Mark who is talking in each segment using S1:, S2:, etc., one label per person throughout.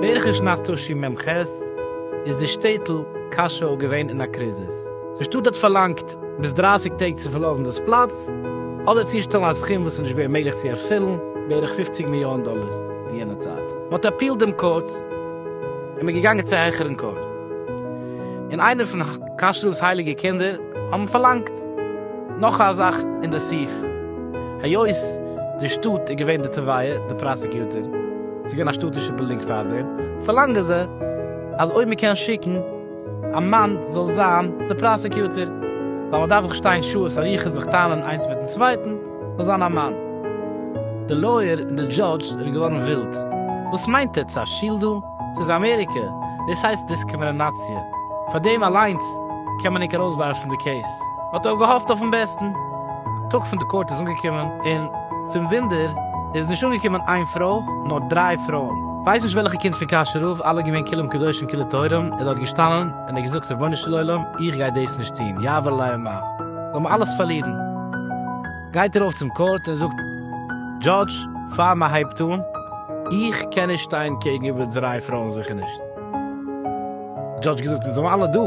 S1: בערך אין שנת תשי מ ח איז די שטעטל קאשוי געווען אין א קריזיס. די שטאט האט פארלאנגט ביז דרייסיג טעג צו פארלאזן דאס פלאץ, אדער צושטעלן א סכום וואס איז נישט געווען מעגליך צו ערפילן, בערך פופציג מיליאן דאלער אין יענע צייט. מען האט אפיעלט דעם קאורט, און מען געגאנגען צו העכערן קאורט, און איינער פון כשר'ס הייליגע קינדער האבן פארלאנגט נאך א זאך אין די סעיף, היות די שטאט איז געווען די תובע, די פראסעקיוטער, ס'איז געווען א שטאטישע בילדינג פאר דעם, פארלאנגען זיי אז אויב מען קען שיקן. א מאן זאל זיין די פראסעקיוטער, ווייל מען דארף זיך שטיין שעות אריכות זיך טענה'ן איינס מיטן צווייטן, זאל זיין א מאן. די לויער און די דזשאדזש זענען געווארן ווילד. וואס מיינט עטס א שול דא? ס'איז אמעריקע, דאס הייסט דיסקרימינאציע. פאר דעם אליינס קען מען ענק ארויסווארפן די קעיס. מ'האט אויך געהאפט אויפן בעסטן. טאג פון די קאורט איז אנגעקומען, און צום ווינדער איז נישט אנגעקומען איין פרוי, נאר דריי פרויען. ווייס נישט וועלכע קינד פון קאשערוב, אלע געווען כלים קדושים כלי טהורים, איז דארט געשטאנען און האט געזאגט רבונו של עולם איך גיי דאס נישט טון, יעבור עלי מה, זאל מען אלעס פארלירן. גייט ער ארויף צום קאורט און זאגט דזשאדזש פאר מען הייבט אן, איך קען נישט שטיין קעגן איבער דריי פרויען זיכער נישט. דזשאדזש געזאגט אונז זעמער אלע דא,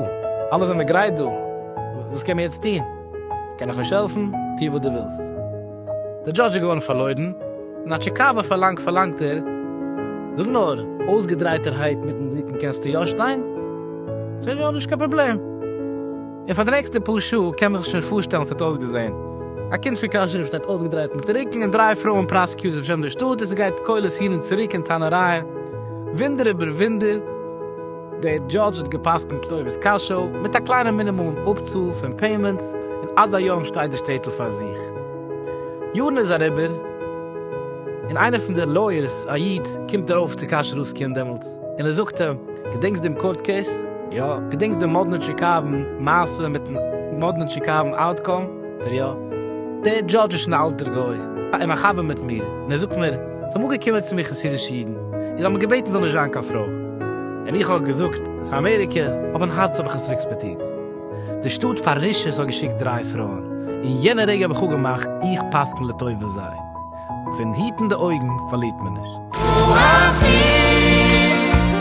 S1: אלע זעמער גרייט דא, וואס קען מען יעצט טון? קען איך נישט העלפן, טו וואס דו ווילסט. דער דזשאדזש איז געווארן פארלוירן, און א טשיקאווע פארלאנג פארלאנגט ער, זאג נאר, אויסגעדרייטערהייט מיטן רוקן קענסטו יא שטיין? זאג איך יא, נישט קיין פראבלעם. און פאר די נעקסטע פאר שעה, קען מען זיך שוין פארשטעלן ווי ס'האט אויסגעזען, א קינד פון קאשוי שטייט אויסגעדרייט מיטן רוקן, און דריי פרויען פראסעקיוטערס בשם דער שטאט, און ס'גייט קולות הין און צוריק און טענה'רייען, וואונדער איבער וואונדער. דער דזשאדזש האט גע'פסק'נט לוי'וועס קאשוי, מיט א קליינע מינימום אפצאל פון פעימענטס, און עד היום שטייט די שטעטל פאר זיך. יארן איז אריבער, און איינער פון די לויערס, א איד, קומט ארויף צו קאש רוסקין דעמאלטס, און ער זאגט אים, געדענקסט דעם קאורט קעיס? יא. געדענקסט דעם מאדנע טשיקאוון מעשה מיטן מאדנע טשיקאוון אוטקאם? דער יא. דער דזשאדזש איז שוין א אלטער גוי, און א חבר מיט מיר, און ער זאגט מיר, זיי אמאל געקומען צו מיר חסידישע אידן און זיי האבן געבעטן זאל נישט זיין קיין פרוי, און איך האב געזאגט ס'איז אמעריקע, אבער אין הארץ האב איך עס רעקספעטירט. די שטאט פאר רשעות האט געשיקט דריי פרויען, און יענע רגע האב איך אפגעמאכט איך פסק'ן לטובת זיי, פון היטן די אויגן פארלירט מען נישט.